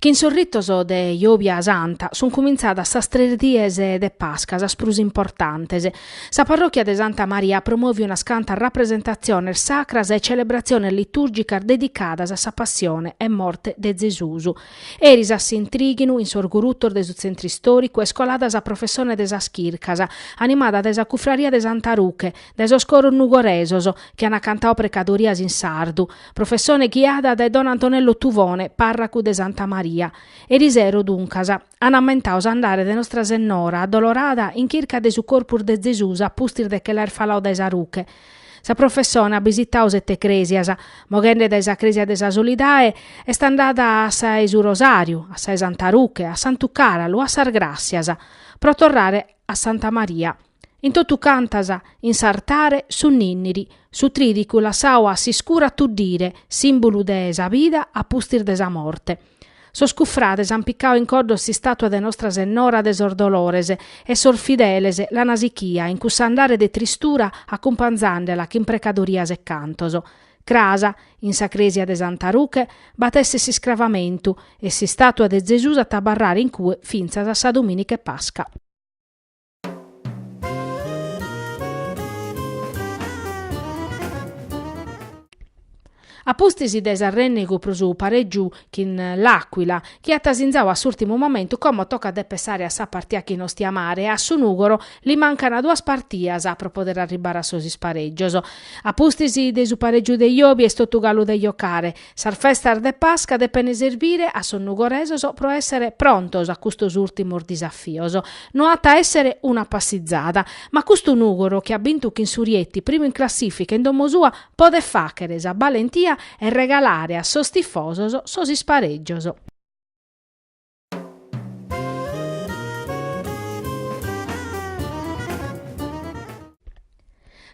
Chin sos ritos de Jòbia Santa sunt cumintzadas sas tres dies de Pasca, sas prus importantes. Sa parròchia de Santa Maria promovit unas cantas rapresentatziones sacras e celebratziones litùrgicas dedicadas a sa passione e morte de Zesus. Eris a s'intrighinu, in sos gurutos de su Tzentru Istòricu, est colada sa professone de sas chircas, animada dae sa Cufraria de Santa Ruche, dae sos coros nugoresos, chi ant cantadu precadorias in sardu, professone ghiada dae don Antonello Tuvone, pàrracu de Santa Maria. Eris sero, duncas, an ammentadu s'andare de Nostra Sennora Addolorada in chirca de su corpus de Zesus a pustis de che l'aer faladu dae sa Ruche, Sa professone at bisitau sete crèsias, moghende dae sa crèsia de sa Solidae est andada a sa 'e su Rosàriu, a sa 'e Santa Ruche, a Santu Càralu, a sas Gràssias, pro torrare a Santa Maria. In totu cantas, in s'artare, su Nìnniri, su trìdicu lassau a s'iscuru a tuddire, sìmbulu de sa bida a pustis de sa morte. Sos cufrades an picadu in coddos s'istàtua de Nostra Sennora de sos Dolores e sos fideles l'an sichia in cuss'andare de tristura acumpanzandela chin precadorias e cantos. Cras, in sa crèsia de Santa Ruche, b'at a èssere s'iscravamentu e s'istàtua de Zesùs at a abarrare in cue fintzas a sa Domìnica 'e Pasca. A pustis de s'arrènnegu pro su parègiu chin l'Àcuila, chi at sinzadu a s'ùrtimu momentu como tocat de pensare a sa partia chin Ostiamare, e a su Nùgoro li mancan duas partias pro poder arribbare a sos isparègios. A pustis de su parègiu de jòbia est totu galu de jocare. Sas festas de Pasca depent serbire a sos nugoresos pro èssere prontos a custos ùrtimos disafios. No at a èssere una passizada, ma custu Nùgoro chi at bintu chin su Rieti primu in classìfica in domo sua podet fàghere sa balentia e regalare a sos tifosos sos isparègios.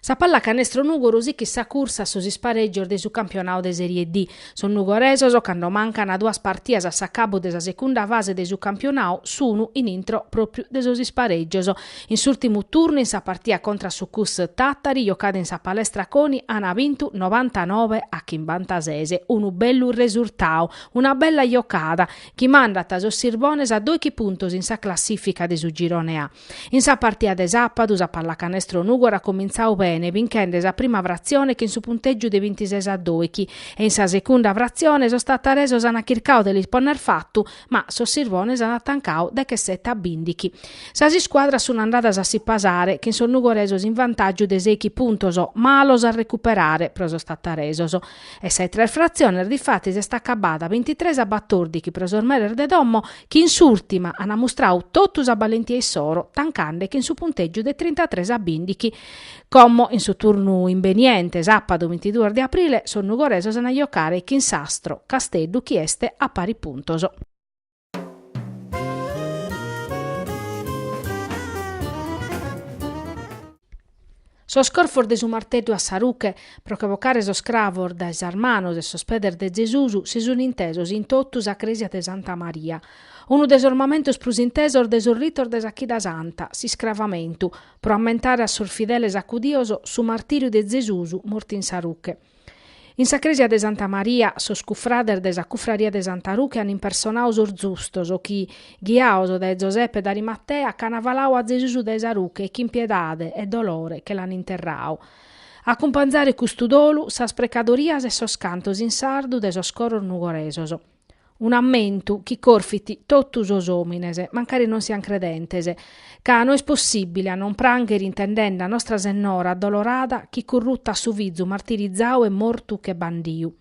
Sa pallacanestro Nùgoro sichit sa cursa a sos isparègios de su campionadu de Sèrie D. Sos nugoresos, cando mancant duas partidas a s'acabu de sa segunda fase de su campionadu, sun in intro pròpiu de sos isparègios. In s'ùrtimu turnu, in sa partida contra su Cus Tàtari, jocada in sa Palestra Coni, ant bintu novantanove a chimbantases. Unu bellu resurtadu, una bella jocada, chi mandat sos Sirbones a doighi puntos in sa classìfica de su Girone A. In sa partida de sàpadu sa Pallacanestro Nùgoro at comintzadu bene binchende sa prima fratzione chin su puntègiu de bintises a doighi e in sa segunda fratzione sos tataresos ant chircadu de lis ponner fatu ma sos Sirbones ant tancadu dechesete a bìndighi. Sas iscuadras sunt andadas a si pasare chin sos nugoresos in vantàgiu de seighi puntos malos a recuperare pro sos tataresos. E sa 'e tres fratziones difatis est acabada bintitres a batòrdighi pro sos meres de domo chi in s'ùrtima an mustradu totu sa balentia issoro tancande chin su puntègiu de trintatres a bìndighi. Como in su turnu imbeniente, sàpadu bintiduos de aprile, sos nugoresos an a jocare chin s'Astro Casteddu chi est a paris puntos. Sos corfos de su marteddu a sa ruche, pro che bocare sos cravos dae sas manos e sos pedes de Gesùs, si sunt intesos in totu sa crèsia de Santa Maria. Unu de sos mamentos prus intesos de sos ritos de sa Chida Santa, s'iscravamentu, pro ammentare a sos fideles acudios su martìriu de Gesùs mortu in sa ruche. In sa crèsia de Santa Maria, sos cufrades de sa cufraria de Santa Ruche an impersonadu sos zustos chi, ghiados dae Zoseppe d'Arimatea, ch'an faladu a Zesus dae sa ruche e chin piedade e dolore che l'an interradu. A acumpanzare custu dolu, sas precadorias e sos cantos in sardu de sos coros nugoresos. Un'ammentu chi corfit totu sos òmines, mancari non siant credentes, ca no est possìbile a non prànghere intendende a Nostra Sennora addolorada chi currutat su fizu martirizadu e mortu che bandiu.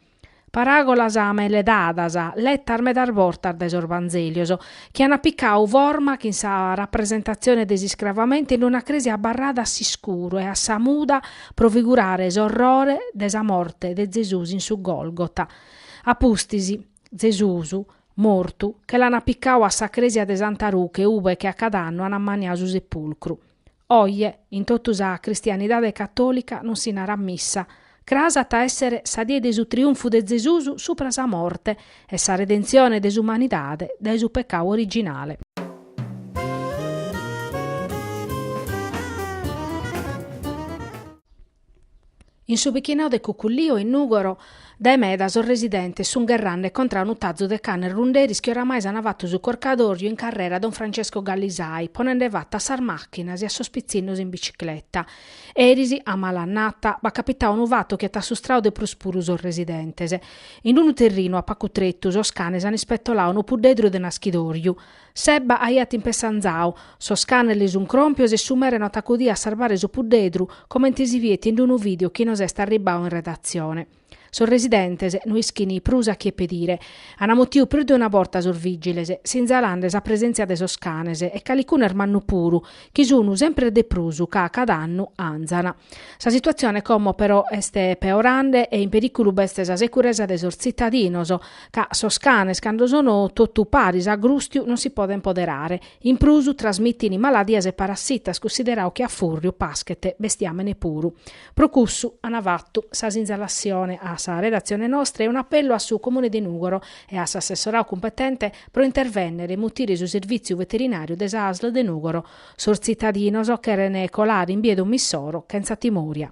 Paràgolas meledadas, letas medas bortas dae sos Vanzèlios, chi ant picadu forma chin sa rapresentatzione de s'iscravamentu in una crèsia abarrada a s'iscuru e a sa muda pro figurare s'orrore de sa morte de Gesùs in su Gòlgota, A pustis, Zesus, mortu, che l'an picau a sa cresia de Santa Ruche ube che a cad'annu an ammaniau su sepulcru. Oje, in totu sa cristianidade catolica non si narat missa, cras at a essere sa die de su triunfu de Zesus supra sa morte e sa redenzione de s'umanidade dae su pecau originale. In su bichinau de Cucullio, in Nùgoro, dae meda sos residentes sunt gherrande contra a unu tazu de canes runderis chi oramai s'ant fatu su corcadòrgiu in carrera Don Francesco Gallisai, ponende fatu a sas màchinas e a sos pitzinnos in bicicleta. Eris, a mala annata, b'at capitadu unu fatu chi at assustradu de prus puru sos residentes. In unu terrinu a pagu tretu sos canes ant ispetoladu unu puddedru de naschidòrgiu. S'ebba aiat in pessu anzau, sos canes li sun cròmpios e su mere no at acudìu a sarvare su puddedru, comente si viet in d-unu video chi nos est arribbau in redatzione. Sos residentes no ischin prus a chie pedire. An mutiu prus de una borta sos vìgiles, sinzalende sa presèntzia de sos canes, e calicunu est mannu puru, chi sun semper de prus ca, cada annu, anzan. Sa situatzione como però est peorande e in perìculu b'est sa securesa de sos tzitadinos, ca sos canes cando sono totu paris a grùstiu non si podent poderare. In prus trasmitint maladias e parassitas, cunsideradu chi a fùrriu paschet bestiamene puru. Pro cussu an fatu sa sinzalassione a sa redatzione nostra e un'apellu a su Comune de Nùgoro e a s'assessoradu cumpetente pro intervènnere e mutire su servìtziu veterinàriu de s'Asl de Nùgoro, Sos tzitadinos cheren colare in bia de domo issoro chentza timoria.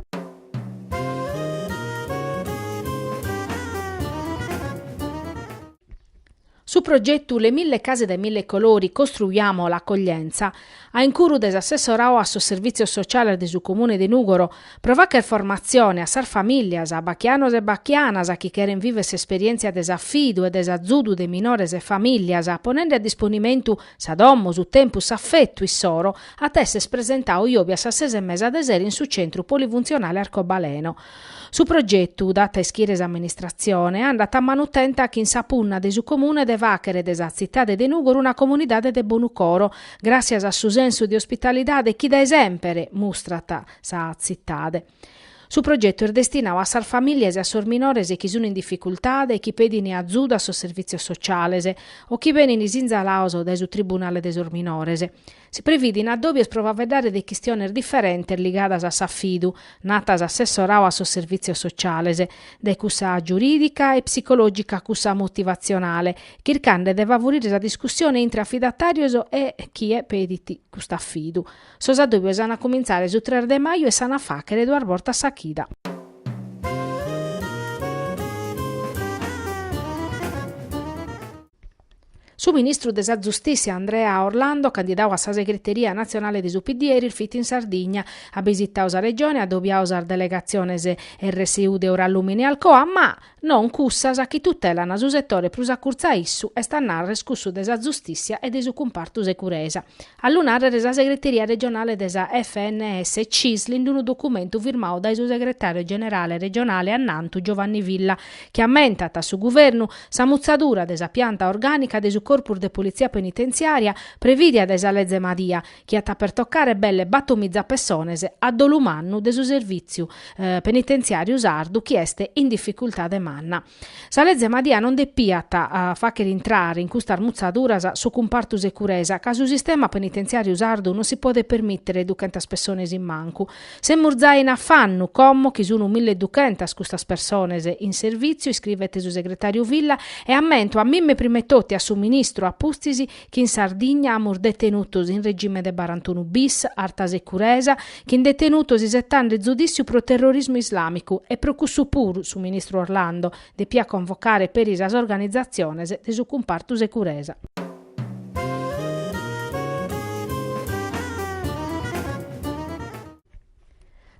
Su progetu Le mille case dai mille colori, costruiamo l'accoglienza, a incuru de s'assessorau a sos Servitzios Sociales de su Comune de Nùgoro, pro fagher formatzione a sas famìlias, a bachianos e bachianas chi cheren viver s'esperièntzia de s'afidu e de s'azudu de minores e famìlias, ponende a disponimentu Sa domo, su tempus, s'afetu issoro at esser presentadu jòbia a sas ses e mesa de sero in su Centru Polifuntzionale Arcobaleno. Su progetu, dat a ischire s'amministratzione, andat a manu tenta chin sa punna de su Comune de fàghere de sa tzitade de Nùgoro una comunidade de bonu coro, gràssias a su sensu de ospitalidade chi dae semper mustrat sa tzitade. Su progetu est destinau a sas famìlias e a sos minores chi sun in dificultade e chi pedin azudu a sos servìtzios sociales o chi benin sinzalados dae su tribunale de sos minores. Si previdin addòbios pro faeddare de chistiones diferentes ligadas a s'afidu, nat s'assessorau a sos servìtzios sociales, dae cussa giurìdica e psicològica a cussa motivatzionale, chircande de favurire sa discussione intre afidatàrios e chie pedit cust'afidu. Sos addòbios an a cumintzare su tres de maju e s'an a fàghere duas bortas sa chida. Su ministru de sa Zustìssia Andrea Orlando, candidadu a sa segreteria natzionale de su PD, eris fit in Sardigna. At bisitadu sa Regione, at adobiadu sas delegatziones RSU de Eurallumina e Alcoa, ma, Non cussas chi tutelan su setore prus a curtzu a issu, est a narrer cussu de sa Zustìssia e de su cumpartu Securesa. A lu narrer sa segreteria regionale de sa FNS Cisl in unu documentu firmadu dae su segretàriu generale regionale annantu Giovanni Villa chi ammentat a su Guvernu sa mutzadura de sa pianta orgànica de su Corpus de Politzia Penitenziària prevìdia dae sa Leze Madia chi at a pertocare belle batomiza pessones a dolu mannu de su servìtziu penitentziàriu sardu chi est in dificultade manna. Sa leze Madia non depiat a fàghere intrare in custas mutzaduras su cumpartu securesa ca su sistema penitentziàriu sardu non si podet permìtere duchentas pessones in mancu. Semus giai in afannu como chi sunt mille duchentas custas pessones in servìtziu, iscrivet su segretàriu Villa, e ammentamus primetotu a su ministru a pustis chi in Sardigna amus detenutos in regime de barantunu bis, arta securesa, chin detenutos isetande zudìssiu pro terrorismu islàmicu e pro cussu puru su ministru Orlando depiat convocare peri sas organizatziones de su cumpartu securesa.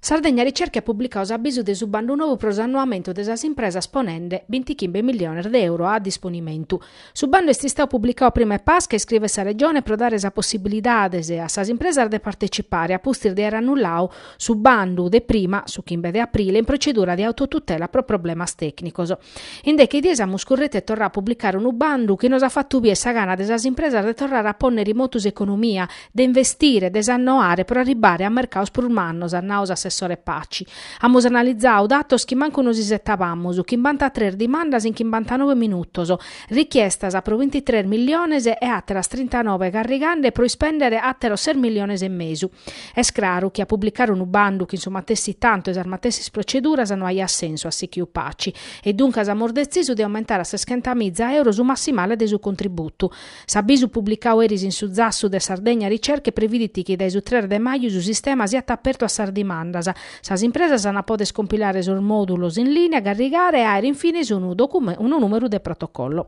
Sardegna Ricerche at publicadu s'abisu de su bandu nou pro s'annoamentu de sas impresas ponende bintichimbe milliones de euro a disponimentu. Su bandu est istadu publicadu prima 'e Pasca, iscrivet sa Regione, pro dare sa possibilidade a sas impresas de partecipare, a pustis de aer annulladu su bandu de prima, su chimbe de aprile, in procedura de autotutela pro problemas tecnicos. In deche dies amus currettu e torradu a publicare unu bandu chi nos at fatu bier sa gana de sas impresas de torrare a pònnere in motu s'economia, de investire, de s'annoare pro arribbare a mercados prus mannos, at nadu s'assessore Paci. Amus analizadu datos chi mancu nos isetabamus, chimbanta-tres dimandas in chimbantanobe minutos, richiestas pro bintitres milliones e àteras trintanobe carrigande pro ispèndere àteros ses milliones e mesu. Est craru chi a publicare unu bandu chin su matessi tantu e sas matessis proceduras no aiat sensu at sichiu Paci. E duncas amus detzisu de aumentare a seschentamiza euro su massimale de su contributu. S'abisu publicadu eris in su zassu de Sardegna Ricerche previdit chi dae su tres de maju su sistema siat apertu a sas dimandas. Sas impresas ant a poder compilare sos modulos in linea, carrigare e aer in fines unu unu numeru de protocollo.